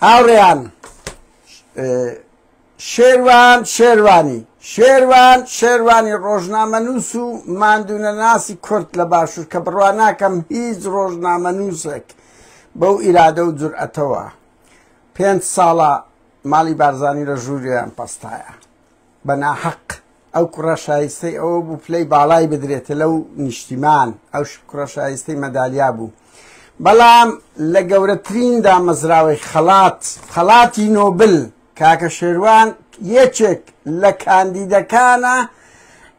هاوڕێیان شێروان شێروانی شێروان شێروانی ڕۆژنامەنووس و ماندوونەناسی کورد لە باشوور کە بڕوا ناکەم هیچ ڕۆژنامەنووسێک بەو ئیرادە و جورئەتەوە پێنج ساڵە ماڵی بارزانانی لە ژووریان پەستایە بە ناحەق ئەو کوڕە شایستەی ئەوە بوو پلەی باڵای بدرێتە لەو نیشتیمان ئەو کوڕە شایستەی مەدالیا بوو بەڵام لە گەورەترین دامەزراوەی خەڵات خەڵاتی نۆبل کاکە شێروان یەکێک لە کاندیدەکانە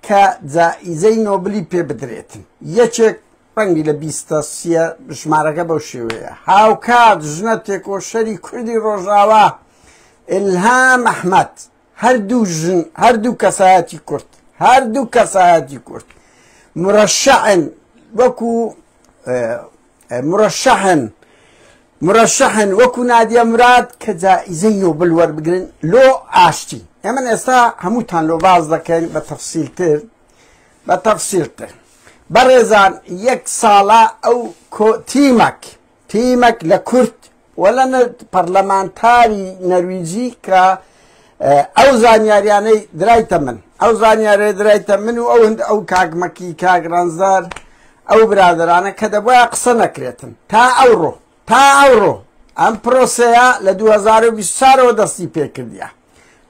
کە جائیزەی نۆبلی پێ بدرێتن یەکێک ڕەنگی لە بیستە سیە ژمارەکە بەو شێوەیە هاوکات ژنە تێکۆشەری کوردی ڕۆژاوا ئلهام ئەحمد هەردوو ژن هەردوو کەسایەتی کورد هەردوو کەسایەتی کورد مرەشەعن وەکو مرەشەحن مرەشەحن وەکو نادیە مراد کە جائزەی نۆبل وەربگرن لۆ ئاشتی ئێمە ئێستا هەمووتان لۆ باز دەکەین بە تەفسیلتر بە تەفسیلتر بەڕێزان یەک ساڵە ئەو تیمەک تیمەک لە کورد و لە پەرلەمانتاری نەرویجی کە ئەو زانیاریانەی درایتە من ئەو زانیارێ درایتە من و ئەو هەند ئەو کاکمەکی کاگرانزار ئەو برادرانە کە دەبواە قسە نەکرێتن تا ئەوڕۆ تا ئەوڕۆ ئەم پرۆسەیە لە 2024ەوە دەستی پێکردە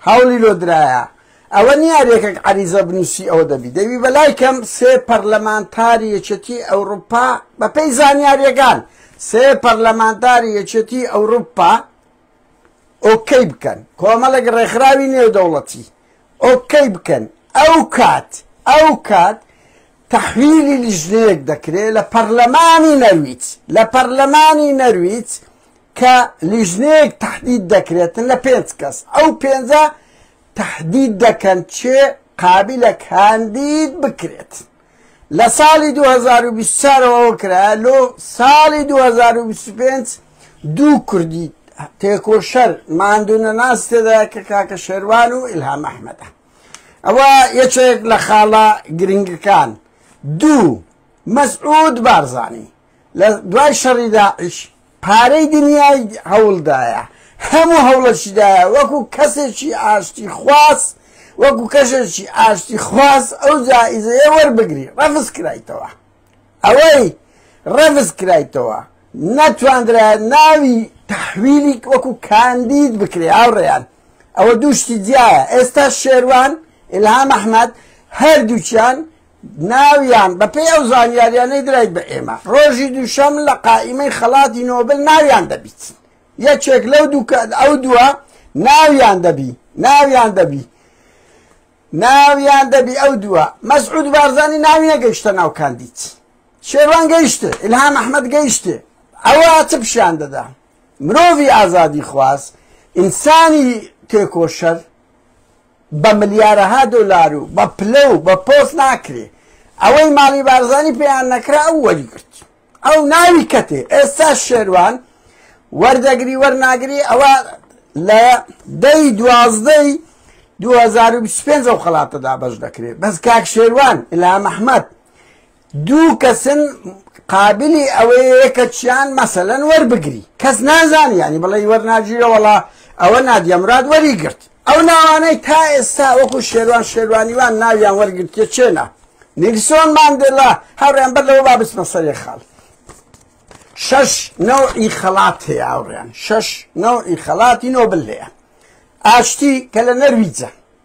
هەوڵی لۆ درایە ئەوە نیە رێکەک عەریزە بنوسی ئەوە دەبی دەبی بەلای کەم سێ پەرلەمانتاری یەکێتی ئەوروپا بەپێی زانیاریەکان سێ پەرلەمانتاری یەکێتی ئەوروپا ئۆکەی بکەن کۆمەڵێک ڕێکخراوی نێودەوڵەتی ئۆکەی بکەن ئەو کات ئەو کات تحویلی لیژنەیەک دەکرێت لە پەرلەمانی نەرویج لە پەرلەمانی نەرویج کە لیژنەیەک تەحدید دەکرێتن لە پێنج کەس ئەو پێنجە تەحدید دەکەن چێ قابلە کاندید بکرێت لە ساڵی 2024ەوە کرا لۆ ساڵی 2025 دوو کوردی تێکۆشەر ماندونە ناس تێدا کە کاکە شێروان و ئیلهام ئەحمەدە ئەوە یەکێک لە خاڵە گرنگەکان دوو مەسعود بارزانانی لە دوای شەڕی داعش پارەی دنیای هەوڵدایە، هەموو هەوڵەشیدایە وەکو کەسێکی ئاشتی خواز، وەکو کەشێکی ئاشتی خواز ئەو جائیزەیە وەربگری، ڕەفز کرایتەوە. ئەوەی ڕەفز کرایتەوە نەتواندرایە ناوی تەحویلی وەکو کاندید بکرێ هاوڕێیان. ئەوە دوو شتی جیایە. ئێستا شێروان، ئیلهام ئەحمەد هەردووکیان ناویان، بەپێی ئەو زانیاریانەی درای بە ئێمە، ڕۆژی دووشەم لە قائیمەی خەڵاتی نۆبل ناویان دەبیت. یەکێک لەو دوو کە ئەو دووە ناویان دەبی، ناویان دەبی، ناویان دەبی ئەو دووە. مەسعود بارزانی ناوی نەگەیشتە ناو کاندید. شێروان گەیشتێ، ئیلهام ئەحمەد گەیشتێ. ئەوە چ پیشان دەدا؟ مرۆڤی ئازادی خواز، ئینسانی تێکۆشەر، بە ملیارەها دۆلار و بە پلە و بە پۆست ناکرێ ئەوەی ماڵی بارزانی پێیان نەکرا ئەو وەریگرت ئەو ناوی کەتێ ئێستا شێروان وەردەگری وەرناگری ئەوە لە دەی دوازدەی 2025 ئەو خەڵاتە دابەش دەکرێت بەس کاک شێروان ئیلام ئەحمەد دوو کەسن قابلی ئەوەیە کە چیان مەسەلەن وەربگری کەس نازانی یانی بڵێ وەرناگیرە وەڵا ئەوە نادیەمراد وەریگرت ئەو ناوانەی تا ئێستا وەکو شێروان شێروانیوان ناویان وەرگرتە چێنا نیکسۆن ماندێلا هاوڕیان بەر لەوە با بچمە سەرێ خاڵ شەش نەوعی خەڵات هەیە هاوڕیان شەش نەوعی خەڵاتی نۆبل هەیە ئاشتی کە لە نەرویجە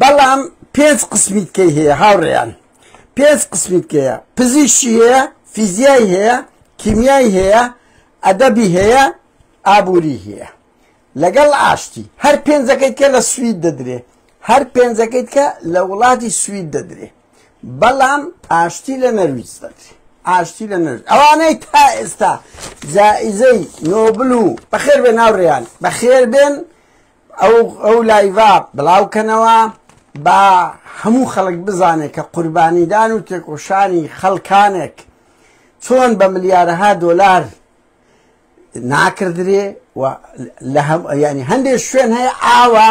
بەڵام پێنج قسمی تکەی هەیە هاوڕێیان پێنج قسمی تکەیە پزیشی هەیە فیزیای هەیە کیمیای هەیە ئەدەبی هەیە ئابووری هەیە لەگەڵ ئاشتی هەر پێنجەکەی کە لە سوید دەدرێ هەر پێنجەکەی کە لە وڵاتی سوید دەدرێ بەڵام ئاشتی لە نەرویج دەدرێ ئاشتی لە نەر ئەوانەی تا ئێستا جائزەی نۆبل و بەخێر بێ ناوڕێیان بەخێر بێن ئەو ئەو لایڤە بڵاو کەنەوە با هەموو خەڵک بزانێت کە قوربانیدان و تێکۆشانی خەڵکانێک چۆن بە ملیارەها دۆلار ناکردرێ و لە هەم ینی هەندێک شوێن هەیە ئاوە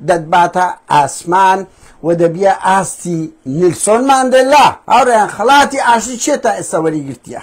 دەتباتە ئاسمان و دەبیە ئاستی نیلسۆن ماندەلا هاوڕێیان خەڵاتی ئاشتی چێ تا ئێستا وەریگرتیە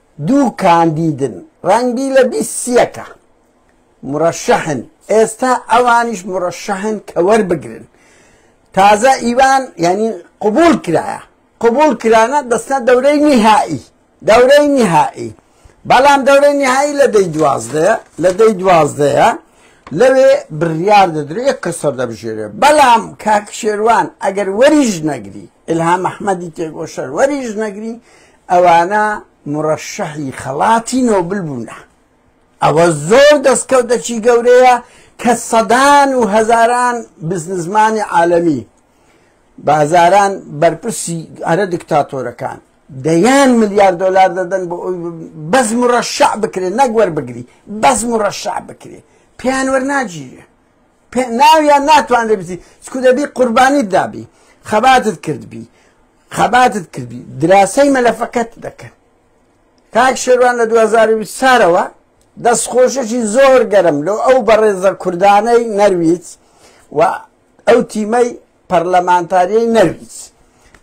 دوو کاندیدن ڕەنگبی لە بیست سیەکە مرەشەحن ئێستا ئەوانیش مرەشەحن کە وەربگرن تازە ئیوان یعنی قبول کرایە قبول کرانە دەستە دەورەی نهایی دەورەی نهایی بەڵام دەورەی نهایی لە دەی دوازدەیە لە دەی دوازدەیە لەوێ بڕیار دەدرێت کەسەر دەبژێرێ بەڵام کاک شێوان ئەگەر وەریش نەگری ئیلهام ئەحمەدی تێکۆشەروەری ژنەگری، ئەوانە موڕەشەحی خەڵاتی نۆبل بوونە. ئەوە زۆر دەستکەوتەکی گەورەیە کە سەدان و هەزاران بزنسمانی عالەمی، بازاران بەرپرسی هەرە دکتاتۆرەکان دەیان ملیار دۆلار دەدەن بۆ ئەوی بەس موڕەشەح بکرێ نەک وەربگری، بەس موڕەشەح بکرێ پێیان وەرناگیرێ. پێناویان ناتوانرێ بچی چکو دەبی قوربانیت دابی خەباتت کردبی خەباتت کردی دراسەی مەلەفەکەت دەکەن کاک شێوان لە 2020 سارەوە دەست خۆشەکی زۆر گەرم لۆ ئەو بەڕێزە کوردانەی نەرویج و ئەو تیمەی پەرلەمانتاریی نەرویج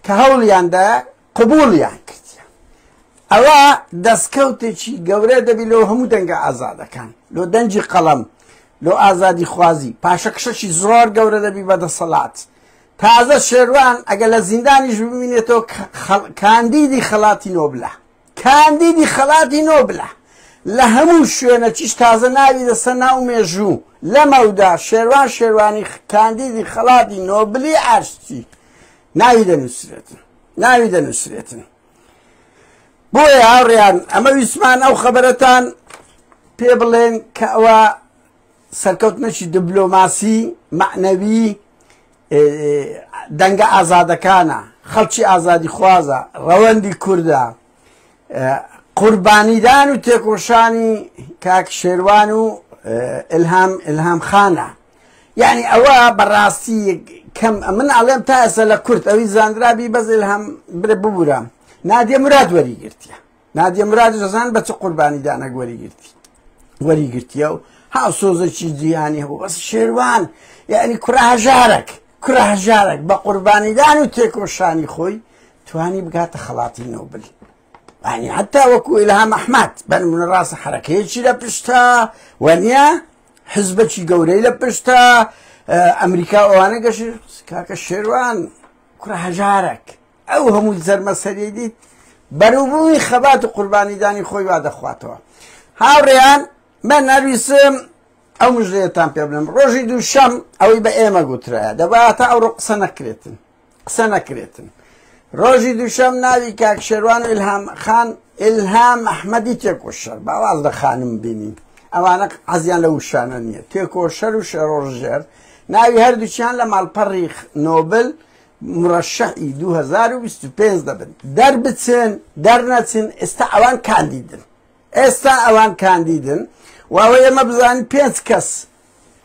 کە هەوڵیاندا قبوڵیان کردیە ئەوە دەستکەوتێکی گەورە دەبی لۆ هەموو دەنگە ئازادەکان لۆ دەنجی قەڵەم لۆ ئازادی خوازی پاشەکشەکی زۆر گەورە دەبی بە دەسەڵات تازە شێروان ئەگە لە زیندانیش ببینێتەوە کاندیدی خەڵاتی نۆبلە کاندیدی خەڵاتی نۆبلە لە هەموو شوێنە چیش تازە ناوی دەسە ناو مێژوو لەمەودا شێروان شێروانی کاندیدی خەڵاتی نۆبلی ئاشتی ناوی دەنووسرێتن ناوی دەنووسرێتن بۆیە هاوڕیان ئەمە ویسمان ئەو خەبەرەتان پێ بڵێن کە ئەوە سەرکەوتنەکی دبلۆماسی معنەوی دەنگە ئازادەکانە خەڵکی ئازادی خوازە ڕەوەندی کووردە قوربانیدان و تێکۆشانی کاک شێروان و ئلهام ئلهام خانە یعنی ئەوە بەڕاستی کەم من ئەڵێم تا ئێستا لە کورت ئەوی زانرابی بەز ئلهام برە ببوورە نادیە مراد وەری گرتیە نادیە مراد زەزان بە چ قوربانیدانەک وەری گرتی وەری گرتیە و ها سۆزەکی جیهانی هەبوو بەس شێروان یعنی کوڕە هەژارێک کوڕە هەژارێک بە قوربانیدان و تێکۆشانی خۆی توانی بگاتە خەڵاتی نۆبل ئەنی حتا وەکو ئیلهام ئەحمد بەنمونە ڕاستە حرەکەیەکی لە پشتە وەنیە حزبەکی گەورەی لە پشتە ئەمریکا ئەوانە گەش کاکە شێوان کوڕە هەژارێک ئەو هەموو زەرمەسەری دیت بەروبووی خەبات و قوربانیدانی خۆی وا دەخواتەوە هاوڕێیان من نەویسم ئەو مژێتان پێ بڵم ڕۆژی دووشەم ئەوەی بە ئێمە گوترە دەباتە ئەو ڕۆ قسە نەکرێتن قسە نەکرێتن ڕۆژی دووشەم ناوی کاک شێروان و ئلهام خان ئلهام ئەحمەدی تێکۆشەر باواز لە خانم بینین ئەوانە عزیان لە وشانە نییە تێکۆشەر و شەڕۆژێر ناوی هەردووچیان لە ماڵپەڕی نۆبل مرەشەعی 2025 دەبن دەربچن دەرنەچن ئێستا ئەوان کاندیدن ئێستا ئەوان کاندیدن واوە ئێمە بزانین پێنج کەس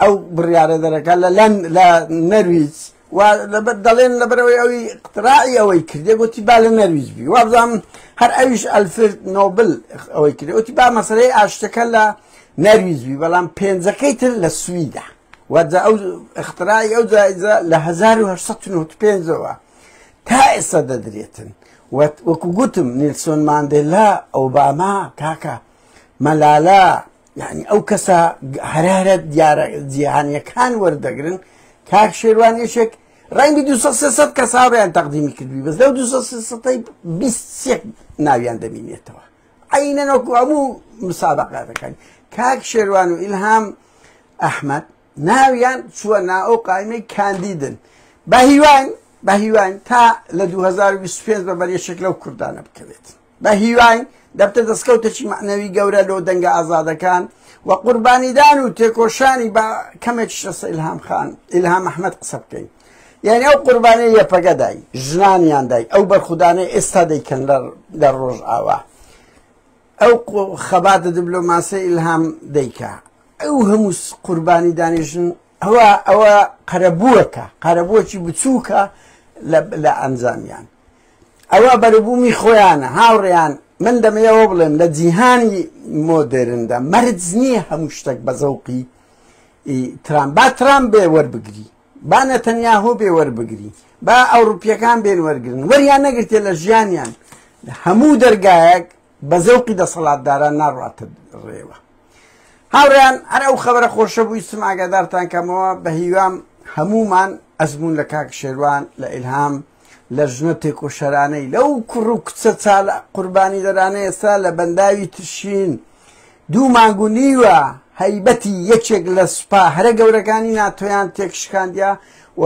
ئەو بڕیارە دەرەکە لە لەن لە نەرویج و دەڵێن لەبەرەوەی ئەوی قتراعی ئەوەی کردێ گوتی با لە نەرویج بی وابزانم هەر ئەویش ئەلفرد نۆبل ئەوەی کرد وتی با مەسلەی ئاشتەکە لە نەرویج بی بەڵام پێنجەکەی تر لە سویدا وجا ئەو اختراعی ئەو جایزە لە 1995ەوە تا ئێستا دەدرێتن وەکو گوتم نیلسۆن ماندێلا ئۆباما کاکە مەلالا یانی ئەو کەسە هەرارە دیارە جیهانیەکان وەردەگرن کاک شێوان یەشێک ڕەنگی دو کەساڕیان تەقدیمی کردوی بەس لەو دو ناویان دەبینێتەوە عینە نۆکو هەموو مسابقاتەکان کاک شێوان و ئیلهام ئەحمد ناویان چووە نا ئەو قایمەی کاندیدن بە هیوان بە هیوان تا لە 2025 بە بەرێشێک لەو کوردانە بکەوێت بەهیوای دەبتە دەستکەوتەکی مەعنەوی گەورە لۆ دەنگە ئازادەکان و قوربانیدان و تێکۆشانی با کەمێکیش لەسەر ئیلهام خان ئیلهام ئەحمەد قسە بکەین یعنی ئەو قوربانیە یەپەگە دای ژنانیان دای ئەو بەرخودانەی ئێستا دەیکەن لە ڕۆژئاوا ئەو خەباتە دبلۆماسیە ئیلهام دەیکا ئەو هەموو قوربانی دانی ژن ئەوە ئەوە قەرەبووەکە قەرەبووەکی بچووکە لە ئەنجامیان ئەوە بەروبوومی خۆیانە هاوڕێیان من دەمەوێت ئەوە بڵێم لە جیهانی مۆدێرندا مەرج نییە هەموو شتێک بە زەوقی ترام با ترام بێ وەربگری با نەتەنیاهۆ بێ وەربگری با ئەوروپیەکان بێن وەرگن وەریان نەگرتێ لە ژیانیان هەموو دەرگایەک بە زەوقی دەسەڵاتداران ناڕاتە ڕێوە هاوڕیان هەر ئەو خەبەرە خۆشە بووی سم ئاگادارتان کەمەوە بە هیوام هەمومان ئەزمون لە کاک شێروان لە ئیلهام لە ژنە تێکۆشەرانەی لەو کوڕ و کچە چالە قوربانی دەرانە ئێستا لە بەنداوی ترشین دوو مانگ و نیوە هەیبەتی یەکێک لە سوپا هەرە گەورەکانی ناتۆیان تێکشکاندیا و